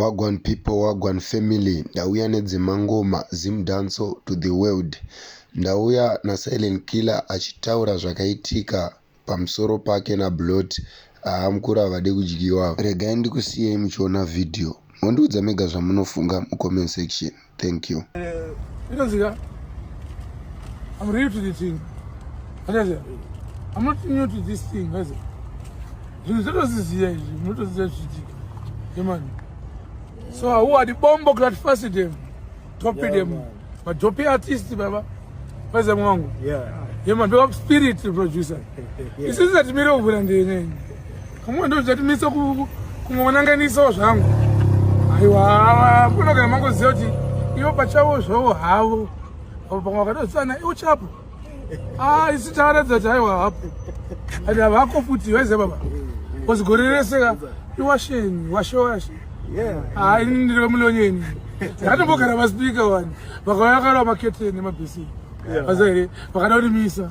Wagwan people, wagwan family. Ndauya nedzemangoma, Zim Danso to the world. Ndauya naSilent Killer achitaura zvakaitika pamusoro pake naBlot. Haa mukuru havade kudyiwa. Regai ndikusiyei muchiona video mondiudza mega zvamunofunga mucomment section. thank you inonzika i'm real to the thing akaziva i'm not new to this thing akaziva zvinhu zvotoziziva izvi munotoziva zvichiitika yemani so hauwadi bombo kula tifasi dem topi dem majopi artist baba vaziva mwangu yemani ndovaspirit producer isisi atimire kuvhura ndenene Pamwe ndo zvatimisa ku kumonanganisawo zvangu. Aiwa, kuna kana mangoziva kuti ivo pachavo zvavo havo. Apo pamwe vakatosana iwo chapo. Ah, isi taratidza kuti aiwa hapo. Ati havako futi vaize baba. Kozi gore rese ka iwasheni, washe washe. Yeah. Ah, ini ndiri vemulonyeni. Ndatombogara paspika wani. Vakauya kara maketeni nemabhesi. Yeah. Vazaire, vakada kurimisa.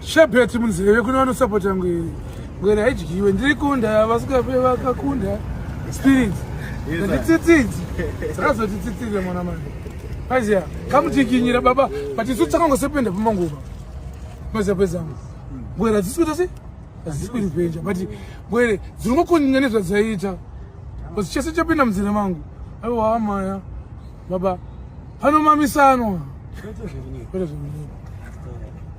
Shebet munzeve kune vanosapota ngwere ngwere haidyiwe ndiri kunda vasikape vakakunda spirit nditsitsidzi dzakazoti tsitsire mwana mani aiziya kamutikinyira baba but isu tsakangosependa pamanguva maziya pezangu ngwere hadzisi kuita se hadzisi kuripenja but ngwere dzinongokunyanya nezvadzaiita bcause chese chapinda munzira mangu aiwa maya baba panomamisanwa kwete zvekunyepa